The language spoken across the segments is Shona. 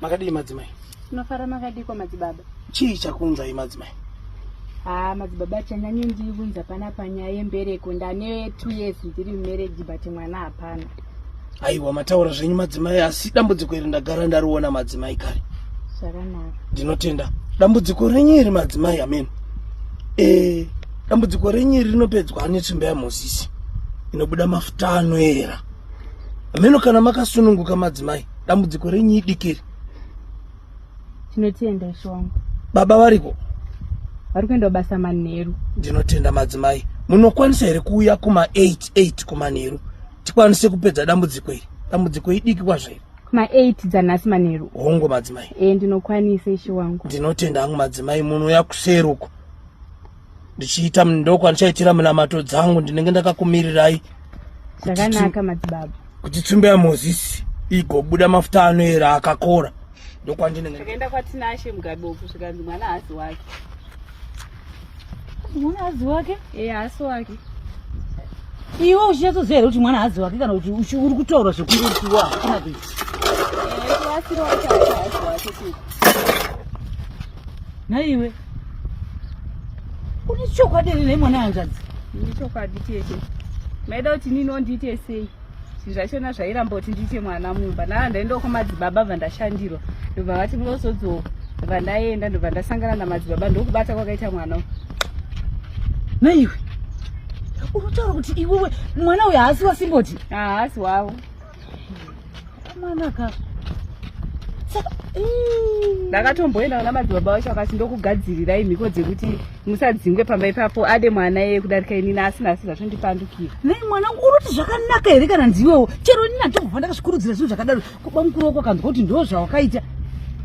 makadii madzimai tinofara makadiko madzibaba chii chakunzai madzimai haa madzibaba chanyanye ndiri kunza pana panyaya yembereko ndane two years ndiri mumereji but mwana hapana aiwa mataura zvenyu madzimai asi dambudziko iri ndagara ndariona madzimai kare zvakanaka ndinotenda dambudziko renyu iri madzimai amen e dambudziko renyu iri rinopedzwa netsvimba yamozisi inobuda mafuta anoera ameno kana makasununguka madzimai dambudziko renyu idiki iri tinotenda ishe wangu baba variko vari kuenda basa manheru ndinotenda madzimai munokwanisa here kuuya kuma 88 kumanheru tikwanise kupedza dambudziko iri dambudziko idiki kwazvo iri kuma 8 dzanhasi manheru hongu madzimai e ndinokwanisa ishe wangu ndinotenda hangu madzimai munouya kuseruko ndichiita ndoo kwandichaitira minamato dzangu ndinenge ndakakumirirai zvakanaka madzibaba kuti tsumbe yamozisi igobuda mafuta anoera akakora ndokwandinengekaenda kwatinashe mugabe uku zvikanzi mwana hazi wake mwana hazi wake e haasi wake iwe uchinyatsoziva here kuti mwana hazi wake kana kuti uri kutaura zvekurukiwa hakuna kuita naiwe une chokwadi here nemwana hanzvadzi ini chokwadi tete maida kuti nini ondiite sei zvinhu zvachona zvairamba kuti ndiite mwana mumba naa ndaendawo kwamadzibaba bva ndashandirwa ndobva vati munozodzo bva ndaenda ndobva ndasangana namadzibaba ndokubata kwakaita mwana naiwe unotaura kuti iwewe mwana uyo haasi wasimboti haasi wavo mwanaka ndakatomboenda kuna madzibaba vacho vakati ndokugadzirirai mhiko dzekuti musadzingwe pamba ipapo ade mwana yeye kudarika inini asina asi zvatondipandukira nei mwana unoti zvakanaka here kana ndiwewo chero inini andingofa ndakazvikurudzira zvinhu zvakadaro kuba mukuru wako kanzwa kuti ndo zvawakaita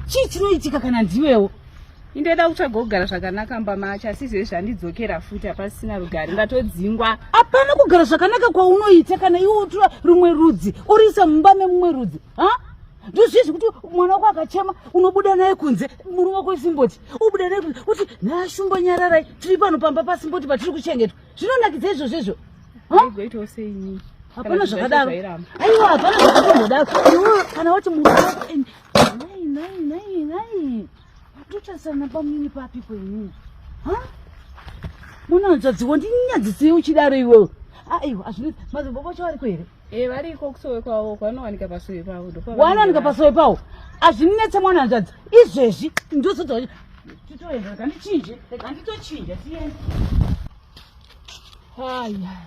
chii chinoitika kana ndiwewo indoda kutsvaga kugara zvakanaka mbamacho asi izvezvi zvandidzokera futi hapasisina rugare ndatodzingwa hapana kugara zvakanaka kwaunoita kana iwe utura rumwe rudzi uriisa mumba memumwe rudzi ha ndozvizvi kuti mwana wako akachema unobuda naye kunze murume wako isimboti ubuda naye kunze kuti nashumbo nyararai tiri pano pamba pasimboti patiri kuchengetwa zvinonakidza izvozvo izvo hapana zvakadaro aiwa hapana zvakatomhodaro kana wati muu Tochasana pamini papi kwenyu? Ha? Munanzadziwa ndinyadzisei uchidaro iwewe. Aiwa, azvinetsi madzimbobo acho ariko here? Eh, variko kusowe kwavo kwanowanika pasowe pavo. Wanowanika pasowe pavo. Azvinetse mwana hanzvadzi. Izvezvi ndozodza kuti titoenda rega ndichinje, rega nditochinja tiende. Haya.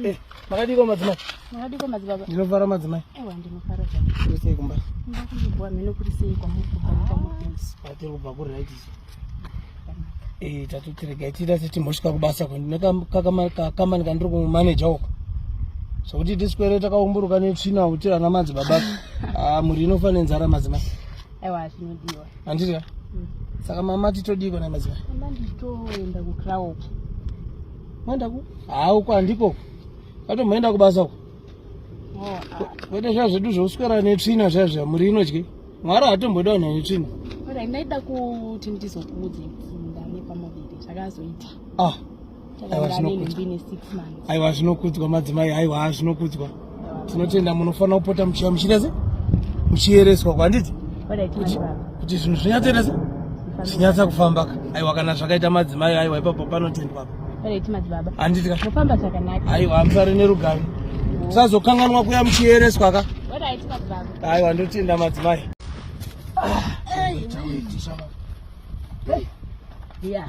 Eh, makadiko madzimai makadiko madzibaba ndinofara madzimai ewa ndinofara zvaa kuri sei kumba kumba kuibwa mhene kuri sei kwamuri kubva nekwamuripinsi atiri kubva kuri right isu eh, tatotirega tiita setimbosvika kubasa kwenekakamani kandiri kumumaneja uko zvokuti tiswere takaumburuka netsvina kuti ana madzibaba ah, mhuri inofa nenzara madzimai aiwa zvinodiwa handiti mm. saka mama titodiiko na maziva mama nditoenda kucloud moenda ku haa uko handikoko katomboenda kubasa uko oh, ah. kwete zviya zvedu zvekuswera netsvina zviya zviya muri inodye mwari hatomboda vanhu vane tsvina ndaida kuti ndizokuudze mzinda nepamuviri zvakazoita ah aiwa zvinokudzwa madzimai aiwa haa zvinokudzwa tinotenda munofanira kupota muchiva muchiita se muchiyereswa kwanditi kuti zvinhu zvinyatsoita se zvinyatsa kufambaka aiwa kana zvakaita madzimai aiwa ipapo panotendwapa handiti ka aiwa musare nerugare tisazokanganwa kuya muchiyereswa ka aiwa ndotenda madzimai ah. Yeah.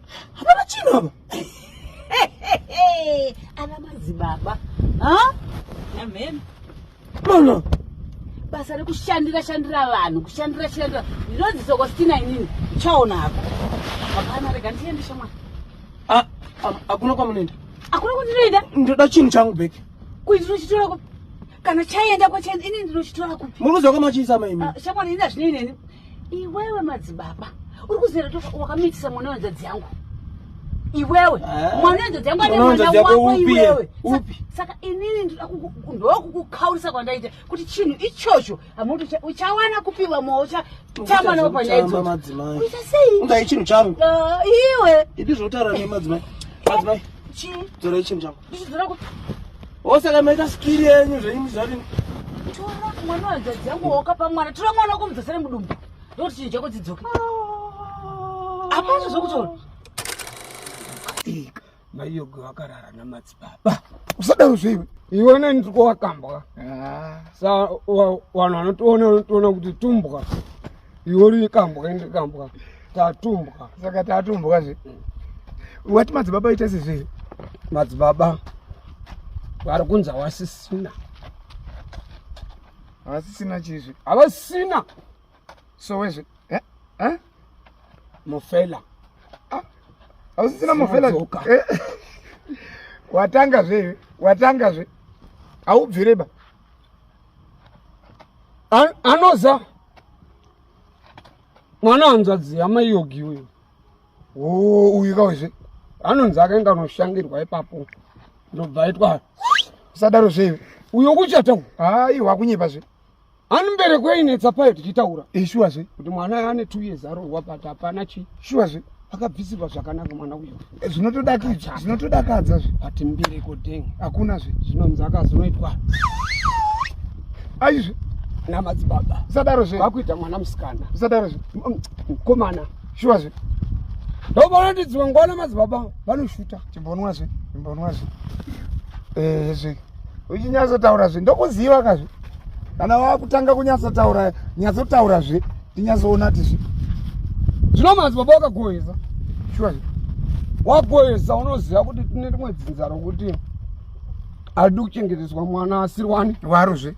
hapana chinhu apa ana madzibaba amen mona basa rekushandira shandira vanhu kushandira shandira ndinonzi sokostina inini chaona hako hapana rega ndiende shamwana hakuna kwamunoenda hakuna kwandinoenda ndoda chinhu changu bheki kuti ndinochitora kupi kana chaenda kwachaenda ini ndinochitora kupi muruziwa kwamachiisa maimi ah, shamwana ini hazvinei neni iwewe madzibaba uri kuzera kuti wakamitisa mwana wenzadzi yangu iwewe ah. mwana wenzadzi yangu ane mwana wako iwewe saka inini ndoda ndokukukaurisa kwandaita kuti chinhu ichocho hamuti uchawana kupiwa moa uchatamba navo panyaya idzoita sei undai chinhu changu ah, iwe idi zvotaura nemadzimai madzimai chii dzorai chinhu changu osaka maita skiri yenyu zvenyu zvati tora mwana wadzadzi yangu wakapa mwana tora mwana wako mudzasare mudumbu ndokuti chinhu chako dzidzoke hapana zvokutaura ika maiyogo vakarara namadzibaba usadaro zveiwe iwe neni tiko wakambwa ah. sa vanhu vanotiona unotiona kuti tumbwa iori kambwa ende kambwa tatumbwa saka tatumbwa zve wati madzibaba ita sezve madzibaba vari kunzi havasisina havasisina chizve havasina sowezve eh? eh? mufela ah, havasisina mufela eh? watanga zve watanga zve haubvireba anoza mwana hanzvadzi hama yogi uyu oh, uyu kawezve anonzi akainga anoshangirwa ipapo ndobva aitwa usadaro zveive uyo kuchata aiwa kunyepa zve ani mbereko yainetsa payo tichitaura ishuwa zve kuti mwana ane two years arohwa but hapana chii shuwa zve akabvisirwa zvakanaka mwana uyo eh, zvinotodakidza zvinotodakadza zve but mbiri kodeng hakuna zve zvinonzi akazonoitwa aizve namadzibaba usadaro zve vakuita mwana musikana usadaro zve mukomana mm, mm, shuwa zve ndovaonatidziwa ngwana madzibaba vanoshuta chimbonwa zve chimbonwa zve ezve eh, uchinyatsotaura zve ndokuziva kazve kana wakutanga kunyatsotaura nyatsotaura zve tinyatsoona tizvi zvino manzi baba wakagoyeza shuwa wagoyeza unoziva kuti tine rimwe dzinza rokuti haidi kuchengeteswa mwana asiri wani waro zve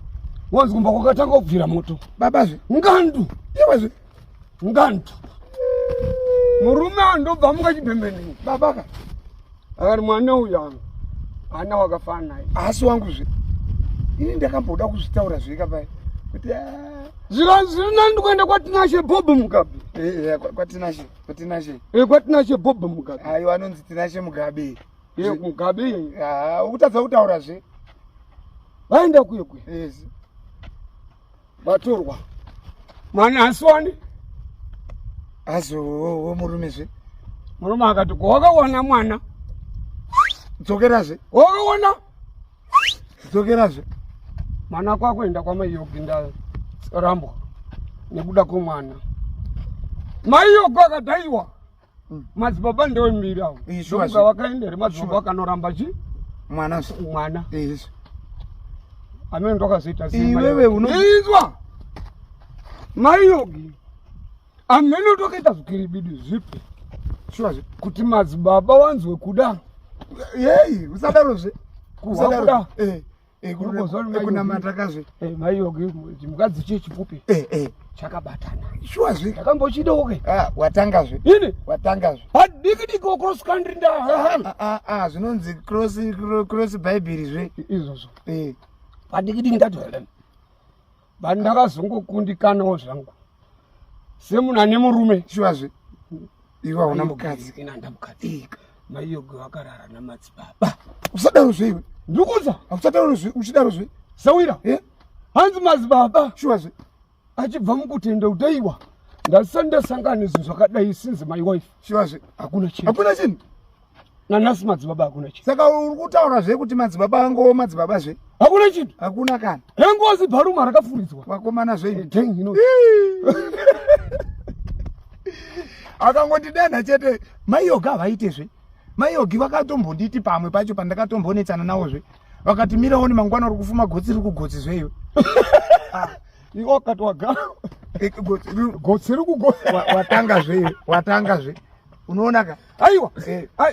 wonzi kumba kwakatanga kubvira moto baba zve ngandu iwe zve ngantu murume andobva muka chibhembenei babaka akati mwana uyu anga ana wakafana naye asi wangu zve ini ndakamboda kuzvitaura zveka pai kuti ah. zviro zviri nani ndikuenda kwatinashe bob mugabe eh, eh, kwatinashe kwatinashe eh, kwatinashe bob mugabe aiwa anonzi tinashe mugabe mugabe ah, ukutadza kutaura zve vaenda kuye kuye vatorwa mani hasiwani azowo murume zve murume akati ko wakawana mwana dzokerazve wakawana dzokerazve mwana kwakuenda kwamai yogi ndarambwa nekuda kwemwana mai yogi akadaiwa mm. madzibaba ndombiri avo ndomuka vakaenda here madzibaba vakanoramba chi mwana mwana amene ndokazoita iwewe unoizwa maiyogi amene ndokaita zvikiribidi zvipi kuti madzibaba wanzwe kuda yei usadarozve kuda eh. ekunamatakazi eh, maiyoge chimukadzi chie chipupi eh, eh. chakabatana shuwa zve ndakambochidawo ke ah, watanga zve ini watanga zve hadiki diko cross country nda ah, ah, ah zvinonzi cross cross bible zve izvozvo eh padiki diki ndati but ndakazongokundikanawo zvangu semunhu ane murume shuwazve iwe hauna mukadzi inandamukadzika maiyogo vakarara namadzibaba usadaro zveiwe ndikuza akusadaro zve uchidaro zve sawira e hanzi madzibaba shuwazve achibva mukutenda utaiwa ndasandasangana izvi zvakadai sinzi my wife shuwazve hakuna chinhu hakuna chinhu nanhasi madzibaba hakuna chinhu saka uri kutaura zve kuti madzibaba angowo madzibaba zve hakuna chinhu hakuna kana hengozi bharuma rakafuridzwa vakomana zveino akangondidenha chete maiyoga havaite zve maiyogi vakatombonditi pamwe pacho pandakatombonetsana nawo zve vakati miraoni mangwana uri kufuma gotsi riri kugotsi zveiwe ah, iwo akati wagara eh, gotsi riri kugotsi watanga zveiwe watanga zve unoona ka aiwa eh. ah,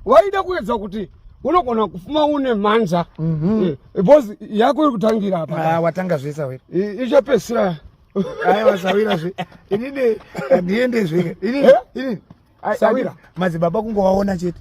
waida kuedza kuti unogona kufuma une mhanza mhm. eh, because yako iri kutangira apa ah, watanga zvesa were ichapesira aiwa sawira zve inini handiende zve inini eh? inini sawira madzibaba kungowaona chete